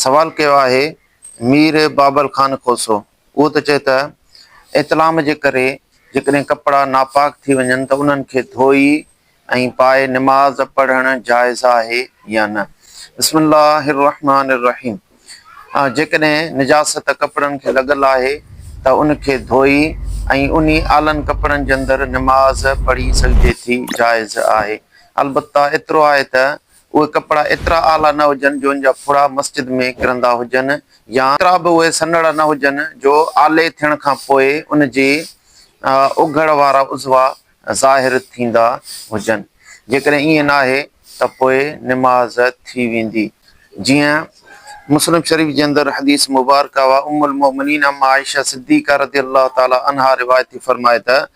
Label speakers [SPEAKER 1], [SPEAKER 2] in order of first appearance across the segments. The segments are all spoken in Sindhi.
[SPEAKER 1] سوال ڪيو آهي مير بابل خان کوسو، اهو ته چئي ته احتلام جي ڪري جيڪڏهن ڪپڙا ناپاڪ ٿي وڃن ته انهن کي ڌوئي ۽ پائي نماز پڙهڻ جائز آهي يا نه؟ بسم الله الرحمان الرحيم جيڪڏهن نجاست ڪپڙن کي لڳل آهي ته ان کي ڌوئي ۽ انهي آلن ڪپڙن جي اندر نماز پڙهي سگهجي ٿي، جائز آهي. البته ايترو آهي ته اهي ڪپڙا ايترا اعليٰ نه هجن جو ان جا ڦڙا مسجد ۾ ڪرندا هجن يا ايترا به اهي سنهڙا نه هجن جو آلي ٿيڻ کان پوء ان جي اگهڙ وارا عضوا ظاهر ٿيندا هجن. جيڪڏهن ائين ناهي ته پوء نماز ٿي ويندي. جيئن مسلم شريف جي اندر حديث مبارڪه اها ام المؤمنين ام عائشه صديقه رضي الله تعالٰي عنها روايت ٿي فرمائي ته،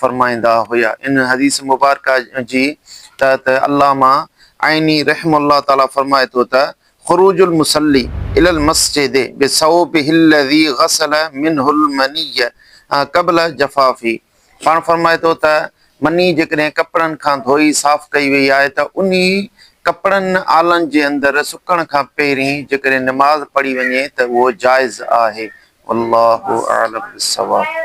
[SPEAKER 1] فرمائيندا هيا. ان حديث مبارڪه جي تحت علامه عيني رحمه الله تعالٰي فرمائي ٿو ته، خروج المصلي الي المسجد بثوبه الذي غسل منه المني قبل جفافه پاڻ فرمائي ٿو ته، مني جيڪڏهن ڪپڙن کان ڌوئي صاف ڪئي وئي آهي ته انهي ڪپڙن آلن جي اندر سڪڻ کان پهرين جيڪڏهن نماز پڙهي وڃي ته اهو جائز آهي. والله اعلم بالصواب.